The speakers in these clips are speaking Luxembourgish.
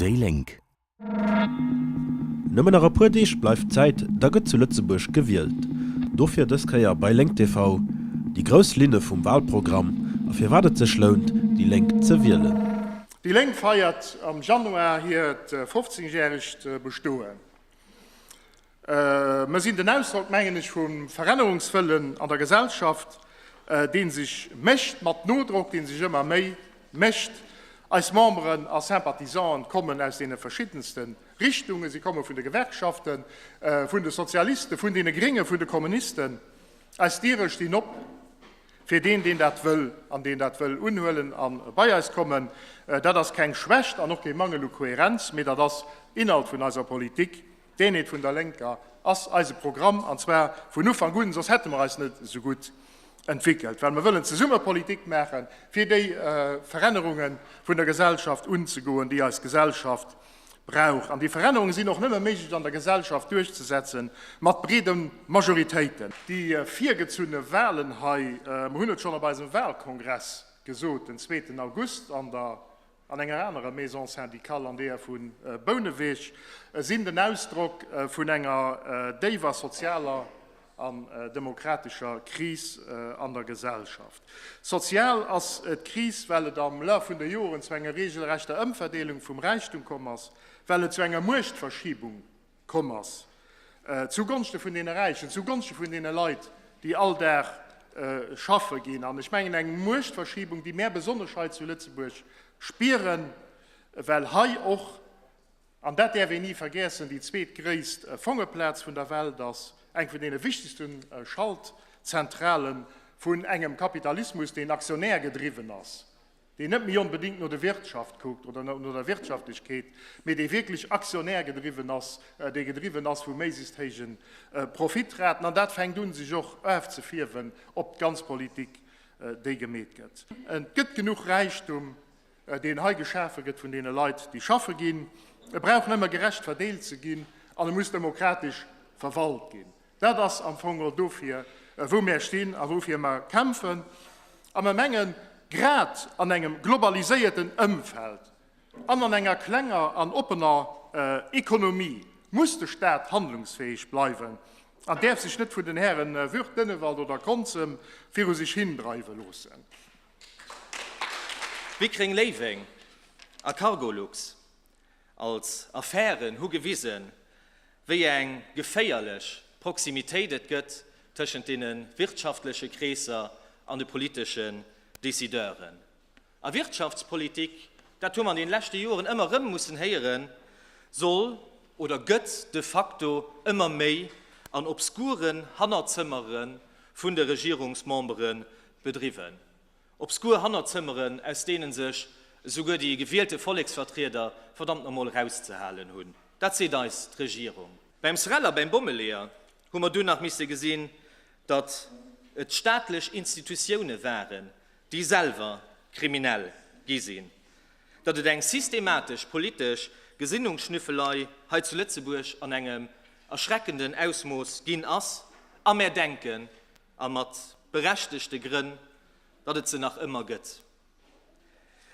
Déi Lénk. Nëmmen nach e puer Deeg bleift Zäit, da gëtt zu Lëtzebuerg gewielt. Dofir dës Kéier bei Lénk TV déi grouss Linne vum Walprogramm a firwat et sech lount, déi Lénk ze wielen. Déi Lénk feiert am Januar hiert 15 järegt Bestoen. Mer sinn den Ausdrock, mengen ech, vum Verännerungswëllen an der Gesellschaft, dee sech mécht mat Nodrock, dee sech ëmmer méi mécht. Eis Memberen a Sympathisanten kommen aus deene verschiddenste Richtungen. Si komme vun de Gewerkschaften, vun de Sozialisten, vun deene Gréngen, vun de Kommunisten. Eis Diere stinn op fir deen, deen dat wëll an deen dat wëll unhuelen a bei eis kommen. Dat ass keng Schwächt an och kee Mangel u Kohärenz, mee dat ass Inhalt vun eiser Politik. D'Eenheet vun der Lénker ass eise Programm, an zwar vun Ufank un, soss hätte mer eis net esou gutt entwéckelt, well mer wëllen zesumme Politik maachen, fir déi Verännerunge vun der Gesellschaft unzegoen, déi eis Gesellschaft brauch. An déi Verännerunge sinn och nëmme méiglech an der Gesellschaft duerchzesetzen, mat breede Majoritéiten. Déi virgezunne Wahlen hei, mer hunn et schonn op eisem Wahlkongress gesot, den zweeten August an der. An enger anerer Maison syndicale, an deeër vu Bouneweg, sinn den Ausdrock vun enger déiwer sozialer an demokratescher Kris an der Gesellschaft. Sozial ass d'Kris, well et am Laf vun de Joren zu enger regelrechter Ëmverdeelung vum Räichtum komm ass, well et zu enger Muechtverschiebung komm ass, zu Gonschte vun deene Räichen, zu Gonschte vun deene Leit, déi all Dag schaffe ginn. An ech mengen, eng Muechtverschiebung, déi mär besonnesch hei zu Lëtzebuerg spieren, well hei och, an dat däerf een ni vergeessen, déi zweetgréisst Fongeplaz vun der Welt ass, eng vun deene wichtegste Schaltzentrale vun engem Kapitalismus, deen aktionärgedriwwen ass. deen net méi onbedéngt no de Wirtschaft kuckt oder no der Wirtschaftlechkeet, mee dee wierklech Actionnaire gedriwwen ass, dee gedriwwen ass vu méiglechst héije Profitraten. An dat fänkt un, sech och erfzefierwen op d'ganz Politik, déi gemeet gëtt. Et gëtt genuch Räichtum, deen hei geschafe gëtt vun deene Leit, déi schaffe ginn. E brauch nëmme gerecht verdeelt ze ginn an e muss demokratesch verwalt ginn. Dat ass am Fong och dofir, wou mär stinn a woufir mer kämpfen. A mer mengen, grad an engem globaliséierten Ëmfeld an an enger klenger an oppener Ekonomie muss de Stat handlungsfäeg bleiwen an däerf sech net vun den Hären Würth, Dennewald oder Konzem viru sech hindreiwe loossen. Pickering Léiweng a Cargolux. Als Affären hu gewisen, wéi eng geféierlech Proximitéit et gëtt tëschent deene wirtschaftleche Kreesser an de politeschen Decideuren. A Wirtschaftspolitik, dat hu mer an deene leschte Joren ëmmer erëm mussen héieren, soll oder gëtt de facto ëmmer méi an obskuren Hannerzëmmere vun de Regierungsmembere bedriwwen. Obskur Hannerzëmmeren, aus deenen sech esouguer déi gewielte Volleksvertrieder verdammt no mol rauszehalen hunn, dat seet eis d'Regierung. Beim SREL a beim Bommeleeër hu mer dunn nach misse gesinn, datt et staatlech Institutioune waren, déi selwer kriminell gi sinn, datt et eng systematesch politesch Gesinnungsschnüffelei hei zu Lëtzebuerg an engem erschreckenden Ausmooss ginn ass a mär denken, a mat berechtegte Grënn, datt et se nach ëmmer gëtt.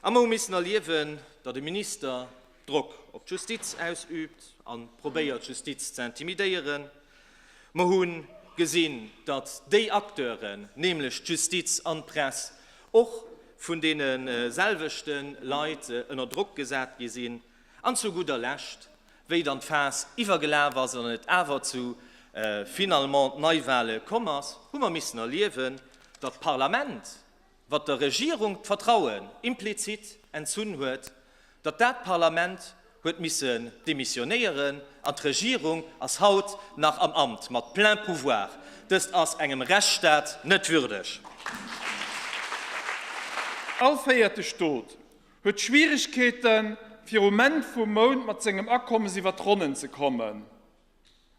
A mer hu missen erliewen, datt e Minister Drock op d'Justiz ausübt a probéiert, d'Justiz ze intimidéieren. Mer hu gesinn, datt déi Acteuren, nämlech d'Justiz an d'Press, och vun deene selwechte Leit ënner Drock gesat gi sinn. An zu gudder Lescht Wéi dann d'Faass iwwergelaf ass an et awer zu finalement Neiwahle komm ass, hu mer missen erliewen, datt d'Parlament, wat der Regierung d'Vertrauen implizit entzunn huet, datt dat Parlament huet missen demissionéieren an d'Regierung ass haut nach am Amt mat plein pouvoir. Dëst ass engem Rechtsstaat net würdeg. All véierte Stot Huet Schwieregkeeten, virum Enn vum Mount mat sengem Akommes iwwer d'Ronnen ze kommen.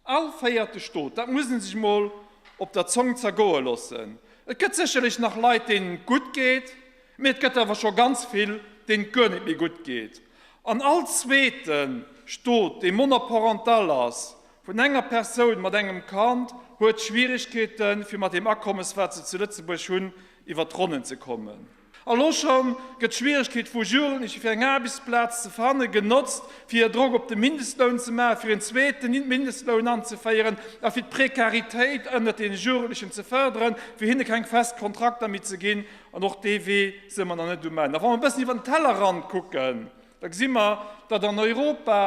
All véierte Stot, dat muss ee sech mol op der Zong zergoe loossen. Et gëtt sécherlech nach Leit, deenen et gutt geet, mee et gëtt awer scho ganz vill, deenen et guer net méi gutt geet. An all zweete Stot, dee monoparental ass, vun enger Persoun mat engem Kand, huet Schwieregkeeten, fir mat deem Akommes, wat se zu Lëtzebuerg hunn, iwwer d'Ronnen ze kommen. Elo scho gëtt d'Schwieregkeet vu Jugendleche fir eng Aarbechtsplaz ze fannen, genotzt, fir Drock op de Mindestloun ze maachen, fir en zweeten Mindestloun anzeféieren a fir d'Prekaritéit ënnert deene Jugendlechen ze fërderen, fir hinne keng fest Kontrakter méi ze ginn. An och dee Wee si mer nach net um Enn. A wa mer e bëssen iwwer den Tellerrand kucken, da gesi mer, datt an Europa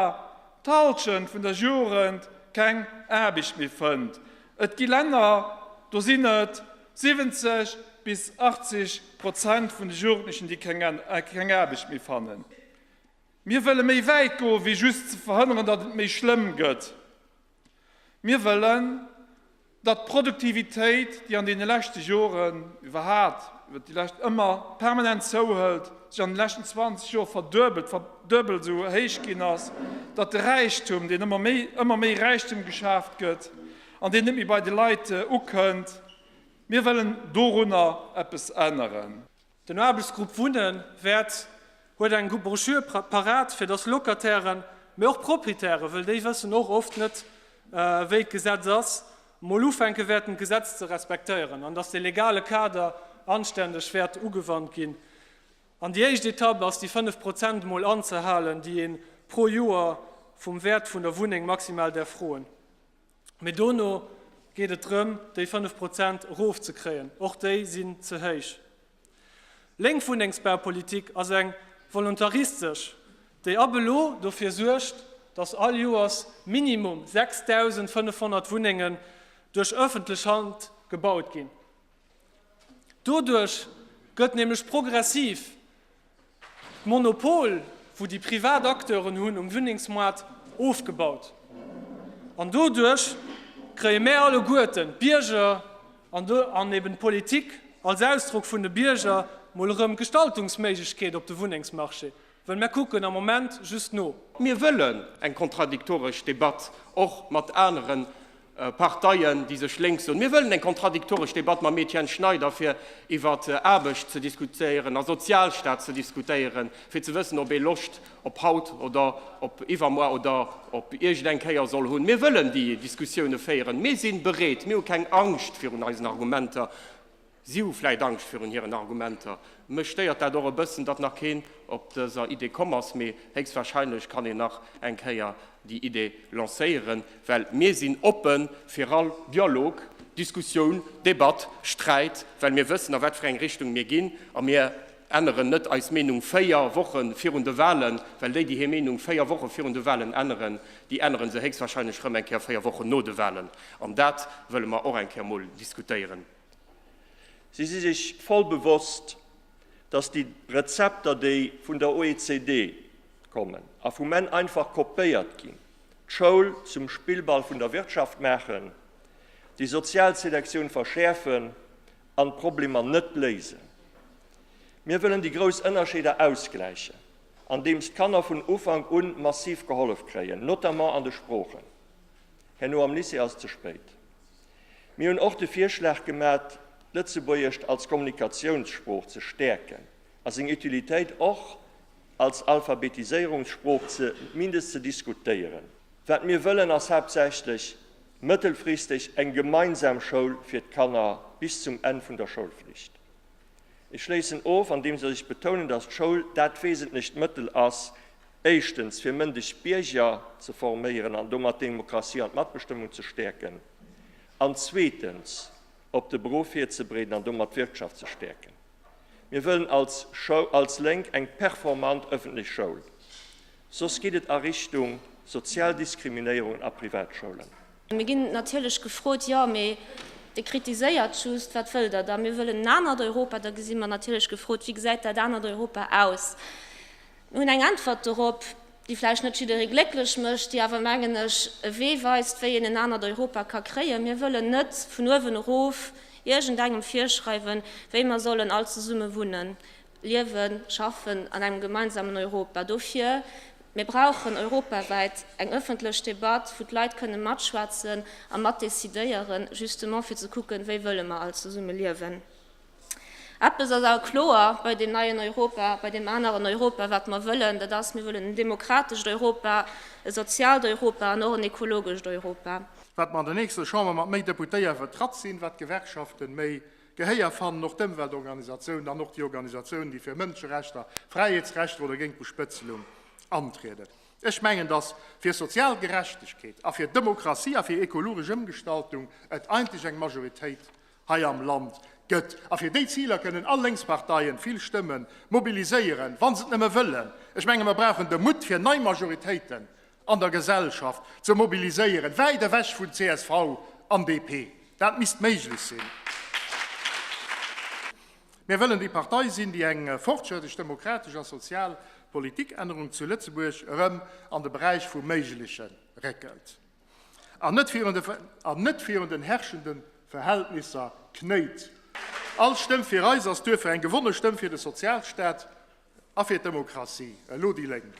d'Halschent vun der Jugend keng Aarbecht méi fënnt. Et gi Länner, do sinn et 70 bis 80 Prozent vun de Jugendlechen, déi keng Aarbecht méi fannen. Mir wëlle méi wäit goen, wéi just ze verhënneren, datt et méi schlëmm gëtt. Mir wëllen, datt d'Produktivitéit, déi an deene leschte Joren, iwwerhaapt iwwer déi lescht, ëmmer permanent zouhëlt, sech an de leschten 20 Joer verduebelt, verduebelt esou héich ginn ass, datt de Räichtum, deen ëmmer méi, ëmmer méi Räichtum geschaaft gëtt, An deen net méi bei de Leit ukënnt. Mir wëllen dorunner eppes änneren. Den Aarbechtsgrupp Wunne wäert huet eng Broschür parat, fir datt Locatairen, mee och Proprietären, wëll déi wëssen och oft net, wéi d'Gesetz ass, mol ufänke wäerten, d'Gesetz ze respektéieren an datt de legale Kader anständeg wäert ugewannt ginn. An déi éischt Etapp ass, déi 5 Prozent mol anzehalen, déi ee pro Joer vum Wäert vun der Wunneng maximal däerf froen. Mee dono geet et drëm, déi 5 Prozent erofzekréien. Och déi sinn ze héich. Lénk Wunnengsbaupolitik ass eng volontaristesch, déi ab elo dofir suergt, datt all Joers minimum 6.500 Wunnengen duerch ëffentlech Hand gebaut ginn. Doduerch gëtt nämlech progressiv d'Monopol, wou déi privat Acteuren hunn um Wunnengsmoart, ofgebaut. An doduerch kréie mär alleguerten, d'Bierger an eben d'Politik als Ausdrock vun de Bierger, mol erëm Gestaltungsméiglechkeet op de Wunnengsmarché. Well mir kucken am Moment just no. Mir wëllen eng kontradiktoresch Debatt och mat anere Parteien, déi sech lénks soen. Mir wëllen eng kontradiktoresch Debatt mam Etienne Schneider, fir iwwer Aarbecht ze diskutéieren a Sozialstaat ze diskutéieren, fir ze wëssen, ob ee Loscht op haut oder op iwwermuer oder op iergend eng Kéier soll hunn. Mir wëllen déi Diskussioune féieren. Mir si bereet. Mir hu keng Angscht virun eisen Argumenter. Si hu vläit Angscht virun hiren Argumenter. Mech stéiert dat och e bëssen, datt nach keen op dëser Idee komm ass, mee héchstwahrscheinlech kann een nach eng Kéier déi Idee lancéieren, well mir sinn oppe fir all Dialog, Diskussioun, Debatt, Sträit, well mir wëssen, a wat fir eng Richtung mir ginn. A mir änneren net eis Meenung véier Woche virun de Wahlen, well déi, déi hir Meenung véier Woche virun de Wahlen änneren, déi ännere se héchstwahrscheinlech erëm eng Kéier véier Wochen no de Wahlen. An dat wëlle mer och eng Kéier emol diskutéieren. Si si sech voll bewosst, datt déi Rezepter, déi vun der OECD kommen a vum en einfach kopéiert ginn, d'Schoul zum Spillball vun der Wirtschaft maachen, déi sozial Selektioun verschäerfen an d'Problemer net léisen. Mir wëllen déi grouss Ënnerscheeder ausgläichen, andeems d'Kanner vun Ufank un massiv gehollef kréien, notamment an de Sproochen. Herno am Lycée ass et ze spéit. Mir hunn och de Virschlag gemat, d'Lëtzebuergescht als Kommunikatiounssprooch ze stäerken a seng Utilitéit och als Alphabetiséierungssprooch zumindest ze diskutéieren. Wat mir wëllen, ass haaptsächlech mëttelfristeg eng gemeinsam Schoul fir d'Kanner bis zum Enn vun der Schoulflicht. Ech schléissen of, andeems ech betounen, dass d'Schoul dat wesentlecht Mëttel ass, Éischtens, fir mëndeg Bierger ze forméieren an domat d'Demokratie an d'Matbestëmmung ze stäerken, an zweetens, op de Beruff virzebreeden an domat d'Wirtschaft ze stäerken. Mir wëllen als als Lénk eng performant ëffentlech Schoul, soss geet et a Richtung sozial Diskriminéierungen a Privatschoulen. A mir ginn natierlech gefrot, Jo, mee Dir kritiséiert just, wat wëllt Der da? Mir wëllen en anert Europa. Da gesi mer natierlech gefrot, Wéi gesäit dat anert Europa aus? Mir hunn eng Äntwert dorop, déi vläicht net jidderee glécklech mécht, déi awer, mengen ech, e Wee weist, wéi een en anert Europa ka kréien. Mir wëllen net vun uewen erof iergendengem virschreiwen, wéi mer sollen all zesumme wunnen, liewen, schaffen an engem gemeinsamen Europa. Dofir, Mir brauchen europawäit eng ëffentlech Debatt, wou d'Leit kënnen matschwätzen a matdecidéieren, justement fir ze kucken, wéi wëlle mer all zesumme liewen. Eppes ass awer kloer bei deem neien Europa, bei deem aneren Europa, wat mer wëllen, dat ass, Mir wëllen en demokratescht Europa, e soziaalt Europa an och en ekologescht Europa. Wat mer an der nächster Chamber mat méi Deputéier vertratt sinn, wat d'Gewerkschaften méi Gehéier fannen, och d'Ëmweltorganisatiounen an och déi Organisatiounen, déi fir Mënscherechter, Fräiheetsrechter oder géint d'Bespëtzelung antrieden. Ech mengen, dass fir sozial Gerechtegkeet a fir Demokratie a fir ekologesch Ëmgestaltung et eigentlech eng Majoritéit hei am Land gëtt. A fir déi Ziler kënnen all Lénksparteien vill Stëmme mobiliséieren, wa se et nëmme wëllen. Ech menge mer brauchen de Mutt, fir nei Majoritéiten an der Gesellschaft ze mobiliséieren, wäit ewech vun csv an DP. Dat misst méiglech sinn. Mir wëllen déi Partei sinn, déi eng fortschrëttlech, demokratesch a sozial Politikännerung zu Lëtzebuerg erëm an de Beräich vum Méigleche réckelt. an net virun de an net virun den herrschenden Verhältnisser knéit. All Stëmm fir eis ass duerfir eng gewonne Stëmm fir de Sozialstaat a fir d'Demokratie. Elo déi Lénk.